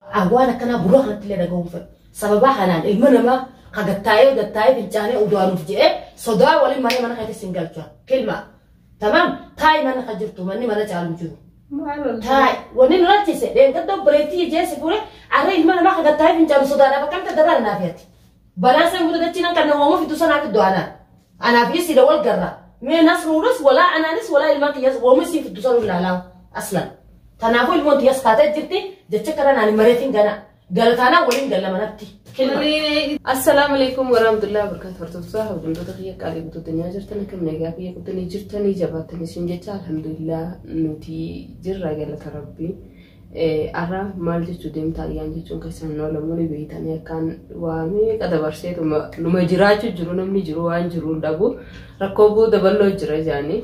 An waan akkanaa gurra kanatti illee dhaga'uu hin fedhu. Sababaa kanaan ilma namaa ka gattaa'ee gattaa'ee fincaanee udaanuuf jedhee sodaa waliin manee mana keetis hin galchaa. Kilma. Tamam taa'i mana ka jirtu manni mana caalu hin jiru. Maal ol Taa'i wanni nu rakkise dheengadda obboleettii jeesi fuudhe arra ilma namaa ka gattaa'ee fincaanu sodaadhaaf akkamta dabala naaf yaati. Balaa san booda dachiin akka nama uumu fiduu sanaa fiddu anaa. Anaaf isii da wal garra. Mee nasruunis walaa anaanis walaa ilmaan kiyyaas uumu isiin fiddu sanuu ilaalaa aslan. Kanaafuu ilmoon tiyyaas kaatee jirti jecha kana naan hin mareetiin gana. Galataanaa waliin galla manatti. Kilma. Assalaamu alaikum warahmatullahi wabarakatuh hordoftoota hawwattoota kiyya qaalii guutuu addunyaa jirtan akka nagaa biyya guddanii jirtanii jabaatanii isin jecha alhamdulillah nuti jirra galata rabbii. Arra maal jechuu deemta ayyaan jechuun keessan hin oolamu ni beeytanii akkaan waa meeqa dabarsee numa jiraachuu jiru namni jiru waan jiru hin dhabu rakkoo booda bal'oo jira jaanii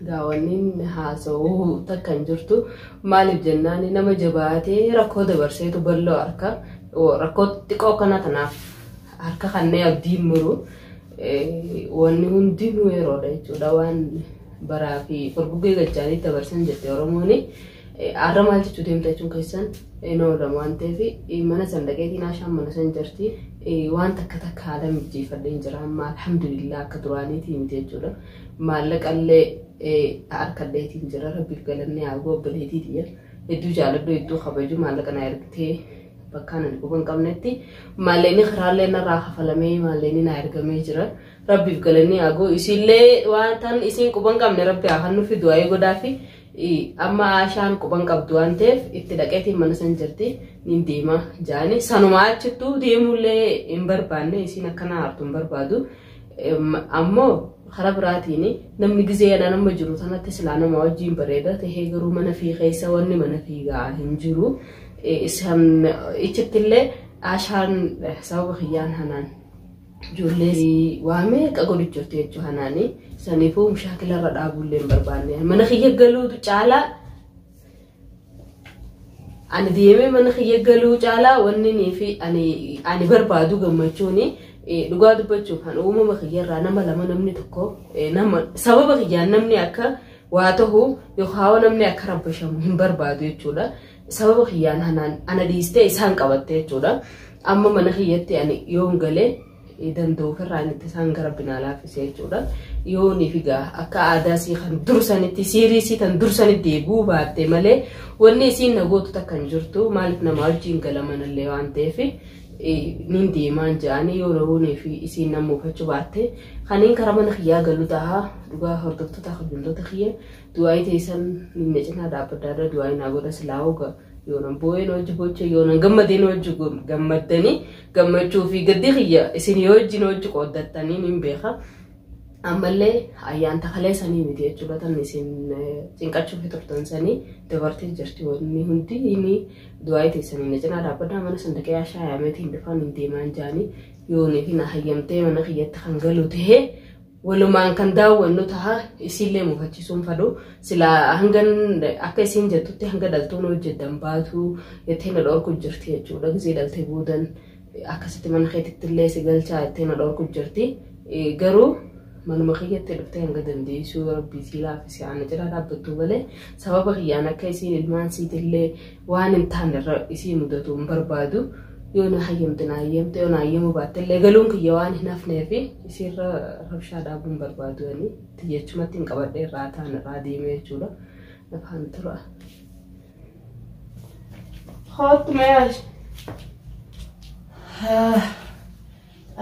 gaawwanniin haasa'uu takka hin jirtu maaliif jennaan nama jabaatee rakkoo dabarseetu bal'oo harka rakkoo xiqqoo kana kanaaf harka kannee abdiin muru wanni hundinuu yeroodha jechuudha waan baraa fi furguggee gajjaanii dabarsan jette Oromooni. Har'a maal jechuu deemta jechuun keessan hin oolamu waan ta'eef mana san dhaqeetiin haashaan mana san jirti. Waan takka takka haala mijeeffadheen jira amma alhamdulillah akka duraaniitii miti jechuudha. Maallaqallee harkadheetiin jira rabbiif galannee haa ga'u obboleetii tiyya. Hedduu jaaladhu hedduu kabaju maallaqa na ergitee bakkaan ani quba hin qabnetti maalleenii karaallee narraa kafalamee maalleenii na ergamee jira. Rabbiif galanii haa ga'u isiillee waan tan isiin quban qabne rabbi haa kan nufi du'aa'ee godhaa fi amma aashaan quban qabdu waan ta'eef itti dhaqeetiin mana san jirti niin deema jaani sanuma achittuu deemuullee hin barbaanne isiin akkana hartu hin barbaadu ammoo karaa biraatiin namni gizee yadaa nama jiru sanatti silaa nama wajjin bareeda ta'ee garuu mana fi keessa wanni mana fiigaa hin jiru ichittillee aashaan sababa kiyyaan hanaan Ijoollee si waame akka godhichofte jechuu hanaani. Saniifuu mushaakila irra dhaabuu illee hin barbaanne. Mana kiyya galuutu caalaa ani deemee mana kiyya galuu caalaa wanni nii fi ani ani barbaadu gammachuuni eh, dhugaa dubbachuuf kan uumama kiyya irraa nama lama namni tokko eh, nama sababa kiyyaan namni akka waa tahu yookaan namni akka rabbashamu hin barbaadu jechuudha. sababa kiyyaan hanaan ana dhiistee isaan qabatte jechuudha. Amma mana kiyyatti ani yoon galee danda'u ofirraa inni isaan gara binaa laaffisee jechuudha. Yoon figaa akka aadaa isii kan dursanitti siirii isii kan dursanitti eeguu baatte malee wanni isiin na gootu takka hin jirtu maaliif nama wajjin galamanallee waan ta'eef nin deemaan ja'anii yoo roonii fi isiin nan muufachuu baatte kaniin karaa mana kiyyaa galu tahaa dhugaa hordoftoota kabajamtoota kiyya Du'aa'ii teessan na cinaa dhaabbadha irra du'aa'ii naa godha silaa hoga yoonan boo'een hojji bocha yoonan gammadeen hojji gammaddanii gammachuu fi gaddi kiyya isin yoo wajjin hojji qooddattanii niin beeka. Ammallee ayyaan takalee sanii miti jechuudha tan isin cinqachuu fi turtan sanii dabartee jirti wanni hundi inni du'aa'ii teessanii na cinaa dhaabbadha mana sandaqee ashaa yaameetiin dhufaan hin deemaan jaanii yoonii fi na hayyamtee mana kiyyatti kan galu ta'ee walumaan kan daawwannu taha isiillee mufachisuun fadhu sila hangan akka isiin jettutti hanga dhaltuun hojjetan baatu jettee na dhorku jirti jechuudha gisee dhaltee boodan akkasitti mana keetitti illee si galchaa jettee na dhorku jirti garuu manuma kiyyatti dhuftee hanga dandeessuu rabbii sii laafisee ana jira dhaabbattuu malee sababa kiyyaan akka isiin ilmaan siitillee waan hin taane irra isii mudatu hin barbaadu yoo na hayyamte na hayyamte yoo na hayyamuu baatte illee galuun kiyya waan hin hafnee fi isiirra rabshaa dhaabuu hin barbaadu ani tiyyachumatti hin qabadhee irraa taan irraa deemee jechuudha nafaan tura. Hot mail.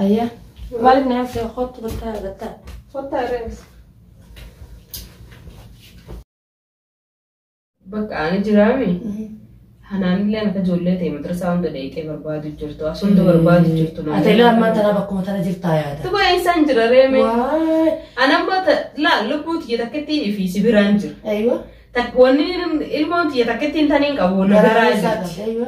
Ayya. Maal nyaata hot mataa irratti. Hot reels. Bakka ani jiraame hanaanillee akka ijoollee ta'e madrasaa hunda dheeyxee barbaadu jirtu as hunda barbaadu jirtu. Atela ammaa tana bakkuma tana jirtaa yaada. Tuba eessaan jira reeme. Waay. Anamma laa lubbuu tiyya takkittii fi si biraan jira. Aywa. Tak- Wanni ilmoon tiyya takkittiin taniin qabu na Garaa biraa isaa jirti. qabda. Aywa.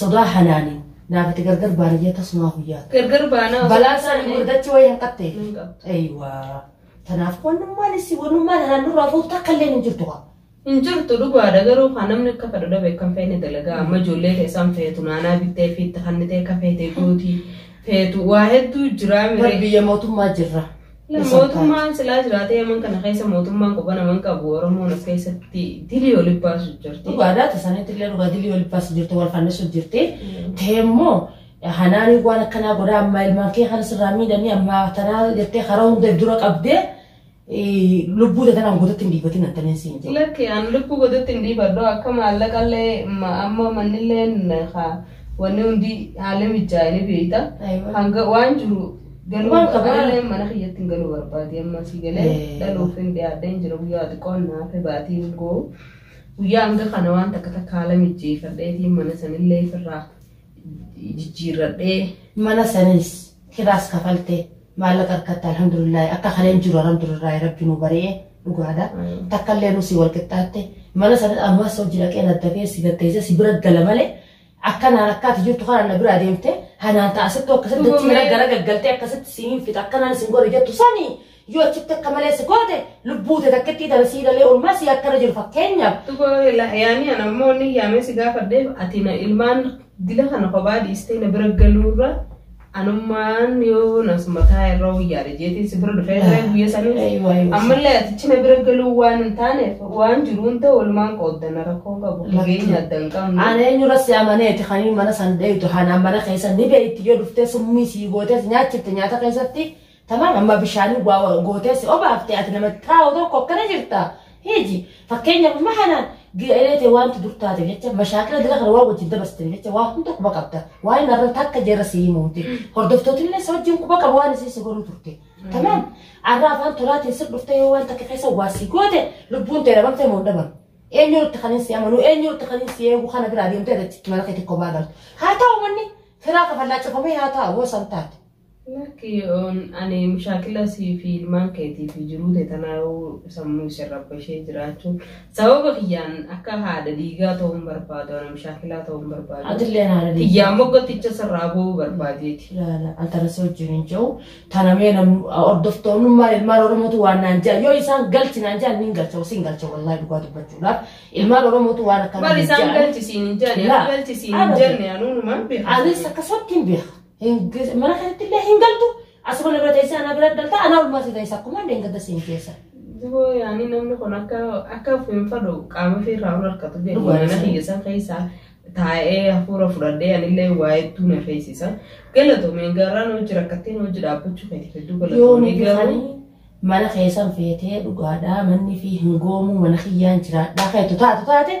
Sodaa halaani naafati gargar baaniyya tasumaa guyyaa. Gargar baanaa osoo Balaa isaa taane- gurgurdachi wayii hin qabte. Hin qabdu. Eeywaa. Tanaaf wanummaan isii wanummaan anaan nurraa fuutu takka illee hin jirtu kaa. Hin jirtu dhugaadha garuu kan namni akka fedhu dhabe kan feene dalagaa amma ijoollee keessaan feetu naanaa bittee fi itti kannitee akka feete guuti feetu waa hedduu jiraa Bar miree. biyya mootummaa jirra. Mootummaan silaa jiraatee yaman kana keessa mootummaan quba naman qabu Oromoon of keessatti dilii ol baasu jirti. Dhugaadhaa tasanitti illee dhugaa dilii ol baasu jirti wal fannisu jirti. Ta'e immoo hanaanii waan akkanaa godhaa ammaa ilmaan kee kan sirraa miidhanii ammaa tanaa jettee karaa hundeef dura qabdee lubbuu tanaan guututti hin dhiibatin attaneen siin jedhu. Lakki an lubbuu godhatti hin dhiifadhu akka maallaqallee amma mannilleen wanni hundi haala mijaa'ee beekta. Hanga waan jiru Galuu Waan qaba. qaballee mana kiyyatti hin galuu barbaade amma si galee Eh. dhaluuf hin dhiyaadhee hin jira guyyaa xiqqoon naaf baatii hin goo. Guyyaa hanga kana waan takka takka haala mijjeeffadheetiin mana sanillee ofirraa jijjiirradhee Mana sanis kiraas kafalte maallaqa harkatti alhamdulillah akka kaleen jiru alhamdulillah rabbi nu bari'e dhugaadha. Takka illee nusi wal qixxaatte mana sana ammas hojii dhaqeen adda ba'ee si gaggeessee si bira gala malee Akka naan akkaati jirtu kanaan na biraa deemte hanaan ta'a asittuu akkasitti Dhuga dachii mee. gara gaggaltee akkasitti siin hin fixa akkanaan isin godhe jettu sani yoo achitti akka malee si goote lubbuu tee takkittii tana sii dhalee olmaa sii akkana jiru fakkeenyaaf Dhuga yaanii ana immoo inni yaamee si gaafadheef ati na ilmaan dila kana kophaa dhiistee na bira galuurra Anummaan yoo nas mataa irra wayyaadha jeetiin si bira dhufee irra guyya sanii. Aywa, aywa. Ammallee atichi na bira galuu waan hin taaneef waan jiru hunda walumaan qooddanna rakkoo qabu. Lakki. Fageenya adda hin qabnu. Ani eenyurra si amaneeti kan mana san dheeytu hanaan mana keessa ni beeyti yoo dhuftee summii sii gootees nyaachifte nyaata keessatti Tamam amma bishaanii waa waa gootee si obaafte ati nama xaawo tokko akkana jirta. Hiji fakkeenyaaf amma kanaan ga'elee ta'e wanti dur taate jecha mashaakila dila kana waa wajjin dabarsitanii jecha waa hunda quba qabda. Waa inni arra takka jeerra si himuuti. Hordoftootillee si wajjin quba qabu waan isin si godhuu turte. Tamam arra afaan tolaatiin sir dhufte yoo waan takka keessa waa si goote lubbuun ta'e dhabamte moo hin dhabamne. Eenyu irratti kan hin si amanu eenyu irratti kan hin si eegu kana biraa deemtee irratti mana keetti kophaa galtu. Haa ta'u manni firaa kafallaa cufamee haa ta'u yoo san taate. Lakki on ani mushaakila sii fi ilmaan keetii fi jiruu tee tanaayuu sammuu isirra bashee jiraachuun sababa kiyyaan akka haadha dhiigaa ta'uu hin barbaadu ana mushaakilaa ta'uu hin barbaadu Atillee haadha dhiigaa. kiyyaan moggatticha sirraa ba'uu barbaadeeti. ilaala antarasa wajjin hin jiru tanamee nam hordoftoonnummaan ilmaan oromootu waan naan jaa yoo isaan galchi naan jaa niin galcha siin galcha wallaahi dhugaa dubbachuudhaaf ilmaan oromootu waan akkana Bari naan isaan jaa. galchisiin hin jenne Laa. akka galchisiin hin Abadi. jenne anuunumaan beeku. anis akkasumatti hin beeka Hin gas- Mana kanatti illee hin galtu. Asuma na bira teessee ana bira galta. Anaa olmaa si teessa akkuma illee hin gadda siin keessa. Duboo yaani namni kun akka akka hin fadhu qaama fi irraa ol harkatu jedhu Dhugaa mana isaa. kiyya san keessa taa'ee hafuura fudhadhee anillee waa hedduu na feesisa. Galatoomeen garaan hojii rakkatteen hojii dhaabbachuu keetiif hedduu Yoo galatoomee nuti garuu kanii mana keessan feetee dhugaadhaa manni fi hin goomuu mana kiyyaan jiraadhaa keetu taatu taate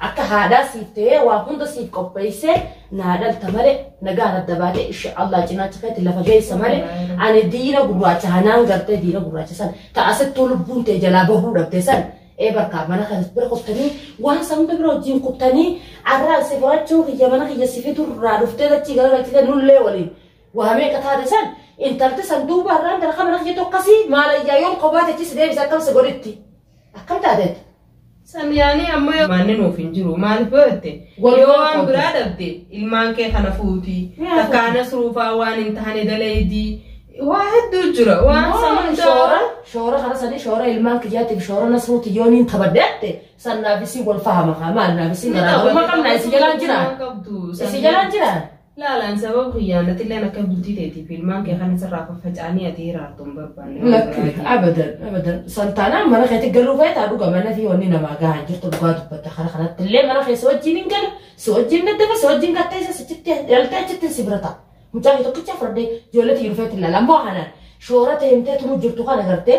Akka haadhaa siif ta'ee waa hunda siif qopheessee naa dhalta malee nagaan adda baatee isha Allah cinaacha keetti lafa geessa malee ani diina gurraacha hanaan gartee diina gurraacha san ta asittuu lubbuun tee jalaa bahuu dhabde san ee barkaa mana kan bira kuftanii waan san hunda bira wajjin kuftanii arraa si furachuu kiyya mana kiyya si fidu irraa dhuftee dachii gara galchitee nullee waliin waa meeqa taate san intalti san duuba irraan darqa mana kiyya tokkasii maalayyaa yoon kophaa techi si deebisa akkam si godhitti. Akkam taateetta? Samiyaanii amma yoo maanni nuuf hin jiru maaliif yoo jette Walumaa yoo waan qoodda. biraa dhabde ilmaan kee kana fuuti Yaa takka fuuti. anas ruufaa waan hin taane dalaydii waa hedduu jira waan Yoo san hunda shoora shoora kana sanii shoora ilmaan kiyyaatiif shoora nasruuti yoo niin tabadde atte san naaf isii wal fahama kaa maal naaf isii Ni garaagarummaa qabna, qabna ni isii jalaan qabna, jiraan ni qabdu, isii san- jalaan jiraan Laal ani sababa kiyyaan atilleen akka bultii teetii fi ilmaan kee kana sirraa faffaca'anii ati hiraartu hin barbaanne. waan Lakki biraa jechuudha. abadan abadan santaanaan mana keetti galuu feetaa dhuga mana fi wanni namaa gahaa jirtu dhugaa dubbata kana kanatti illee mana keessa wajjin hin gala si wajjin daddaba si wajjin gatteessa si citti dhaltee achitti si bira ta'a. Mucaa fi tokkicha fardee ijoollee tiyyuu feetti ilaala ammoo kanaan shoora ta'e himtee tumuu jirtu kana gartee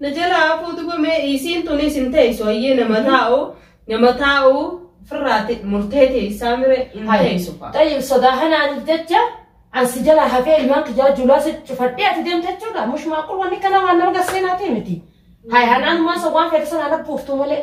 Na jalaa hafuu duba mee isiin tunis hin teessu hayyee nama taa'u nama taa'u firraati murtee teessaa mire hin Hai. teessu fa'a. Tayyib sodaa kanaaniif jecha an si jalaa hafee ilmaan kiyyaa julaa si cufadhee ati deemte jechuudha. Mush maaqul wanni kana waan nama garseenaatii miti. Hai hanaan maa sawwaan fedhe sanaa nabbuuftu malee.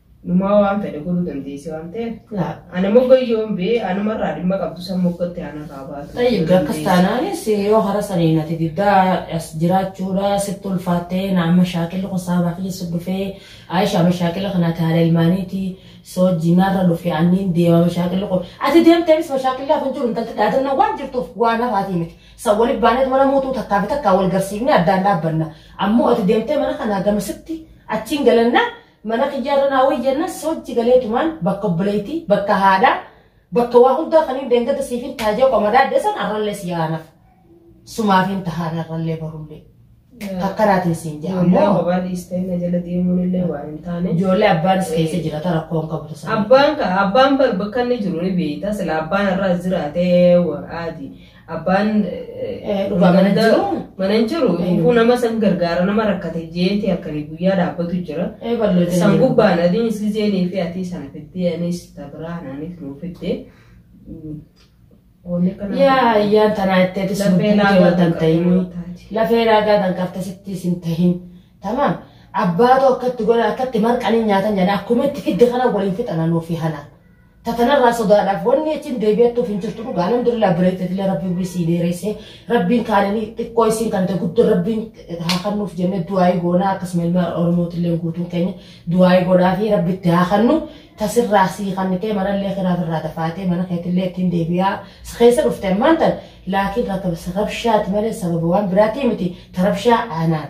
Numaa waan fedhe godhuu dandeessi waan ta'eef. Laa. Ana mogayyoon bee anumarraa dhimma qabdu san moggatti anarraa baatu. Tayyib gakkas taanaanis yoo hara saniin ati diddaa as jiraachuudha sitti ulfaattee na amma shaakilli kun saabaa keessa dhufee Aisha amma shaakilla kana ati haala ilmaaniiti soo jinaarra dhufe anniin deemama shaakilli kun ati deemteemis ma shaakillaa kun jiru intalti dhaadannaa waan jirtuuf waan hafaatii miti sa waliif baaneet mana mootuu takkaa fi takkaa wal garsiifnee addaan dhaabbanna ammoo ati deemtee mana kanaa gamasitti achiin galannaa Mana kiyyarra naa wayya jennaan soochi galeetumaan bakka obboleettii, bakka haadhaa, bakka waa hundaa kaniin deengada siifin ta'a jee qoma daadde san arrallee si aanaf. Sumaafin tahaan arrallee barullee. Kakkaraatiin siin jaa Ijoollee ammoo abbaa dhiistee na jala deemuun illee waan hin taane. ijoollee abbaanis keessa jira ta rakkoo hin qabdu sana. Abbaan ka abbaan bar bakka inni jiru ni beekta sila abbaan irraa jiraatee waraati. Abbaan Eh, dhugaa mana jiru. mana hin jiru. Kun nama san gargaara nama rakkate jeeti akkanii guyyaa dhaabbatu jira. Eh, ballo jira. San gubbaan adiin isli jeenii fi atii sana fittee anis tabiraa anaanis nuu fittee. Wanni kana. Yaa yaa tanaa itti ati sun Lafee laagaa yoo tan ta'in. taate. Lafee laagaa tan qabta sitti sin ta'in. Tamaam. Abbaatu akkatti godha akkatti marqanii nyaatan jedha akkuma itti fidde kana waliin fixana nuuf fi halaan. Ta tanarraa sodaadhaaf wanni achiin deebi'attuuf hin jirtu dhugaa alhamdulillah bireetetillee rabbii umrii sii dheereessee rabbiin kaananii xiqqoo isiin kan ta'e guddoo rabbiin haa kannuuf jennee du'aayii goonaa akkasuma ilma oromootillee guutuun keenya du'aayii godhaa fi rabbi itti haa kannu tasirraa sii kannitee manallee kiraaf irraa dafaatee mana keetillee ittiin deebi'aa si keessa dhufte ammaan tan laakiin rabshaati malee sababa waan biraatii miti tarabshaa aanaan.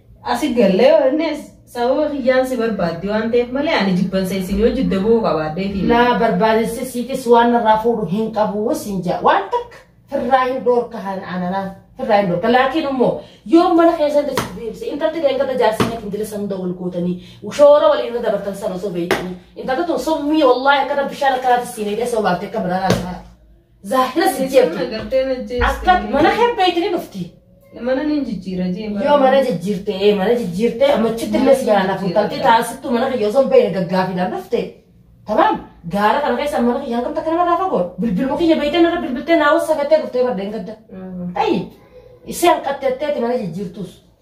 Asi gallee yoonnes sababa kiyyaan si barbaaddi waan ta'eef malee ani jibbansa isin yoo jidda bu'uu qabaaddeeti. Laa barbaadinsi siitis waan narraa fuudhu hin qabu siin jaa waan takka firraa hin dhoorka haan ananaa firraa hin dhoorka laakiin immoo yoo mana keessan itti deebise intalti deengata jaarsanii ittiin dirisa hunda wal gootanii shoora waliin irra dabartan sana osoo beektanii intalti tun sommii wallaahi akkana bishaan akkanaatti siin eegee osoo baaftee akka biraa laataa Zaahira si jeetu. Agartee na jeestu. Akka mana kee beeytanii dhufti. Mana ni jijjiira jeema. Yoo mana jijjiirte ee mana jijjiirte ammachitti illee si yaala fuutaltee taasittu mana kiyya osoo hin beeyne gaggaafiidhaan dhufte. Tamam gaara kana keessa mana kiyya hangam takka namarraa fagoo bilbiluma kiyya beeytee narra bilbiltee naa wassa gattee dhuftee bardeen gadda. Ayi ishee hanqatteetteeti mana jijjiirtuus.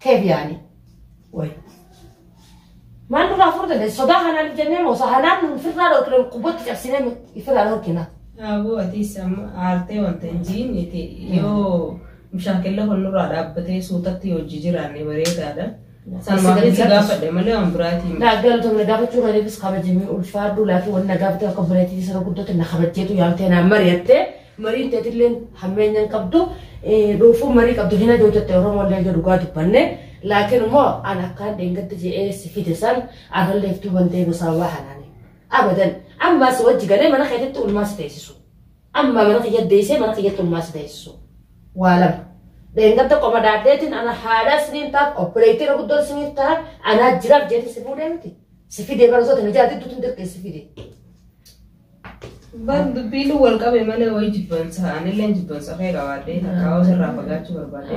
Keef yaali. Way. Maal nurraa furuu dandeessi? Sodaa kanaan jennee moo sahanaan nuun firraa dhorkine qubbatti cabsinee firraa dhorkina. Aboo atis amma aartee wanta hin jiin itti yoo mushaakilla kun nurraa dhaabbatee suutatti yoo hojii jiraanne bareedaadha. Salmaafis gaafadhe malee waan biraatiin. Naa galatoomne gaafachuu kaniifis kabajamee ulfaadhu laafii wanna gaafatee akka bireetii sana guddooti na kabajjeetu yaamtee naa mari'attee Mariin teetilleen hammeenya hin qabdu. Dhuufuun marii qabdu hin aduu jette Oromollee ija dhugaa dubbanne. Laakiin immoo an akkaan dheengadda je'ee si fide san arrallee iftuu bantee gosaawaa hanaani. Abadan ammaa si wajji galee mana keetitti ulmaa si teessisu. Ammaa mana kiyya deessee mana kiyyatti ulmaa si teessisu. Waa lama. Dheengadda qoma dhaadheetiin ana haadhaa siniin taaf obboleettiin guddoon siniif ta'a anaa jiraaf jeetiin si fuudhee miti. Si fidee bara soota mijaatti tutun dirqee si fidee. Bar dubbiin wal qabe malee wayii jibbansa anilleen jibbansa kee qabaadhee takkaawaa sirraa fagaachuu barbaadee.